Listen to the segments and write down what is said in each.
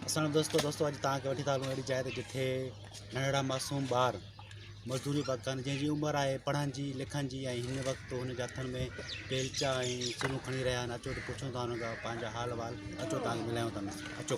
اسان دوستو دوستو اڄ تان کي وٺي ٿا هلون اهڙي جاء تي جتي ننڍڙا معصوم ٻار مزدوري پيا ڪن جنهن جي عمر آهي پڙهڻ جي لکڻ جي ۽ هن وقت هن جي هٿن ۾ بيلچا ۽ چلون کڻي رهيا آهن اچو ته پڇون ٿا هن کان پنهنجا حال وال اچو تان ملايون ٿا اچو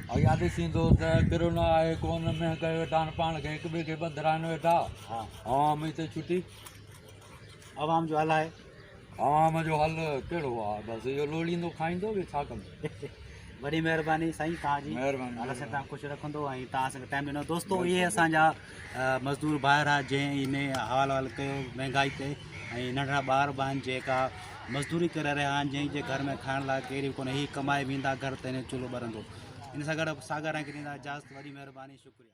اھا ڏسين ٿو ته ڪھڙو نه آھي ڪون مينھن ڪيو ويٺا آھن پاڻ کي ھڪ ٻئي کي ٻنڌرائن ويٺا عوام ھتي ڇٽي عوام جو حل آھي عوام جو حل ڪھڙو آھي بس اھو لوڙيندو کائيندو ٻيو ڇا ڪندو وڏي مھرباني سائين تھان جي مھرباني الله سائين تھان خوش رکندو ۽ تھان اسان کي ٽائيم ڏنو دوستو اھي اسان جا مزدور ڀائر آ جنهن هي ۾ حوال وال ڪيو مهنگائي تي ۽ ننڍڙا ٻار به آهن جيڪا مزدوري ڪري رهيا آهن جنهن جي گهر ۾ کائڻ لاء ڪير به ڪونهي هي ڪمائي ويندا گهر تي نه چولهو ٻرندو ان سان گڏ ساڳا رنگ ڏيندا اجازت وڏي مهرباني شڪريا.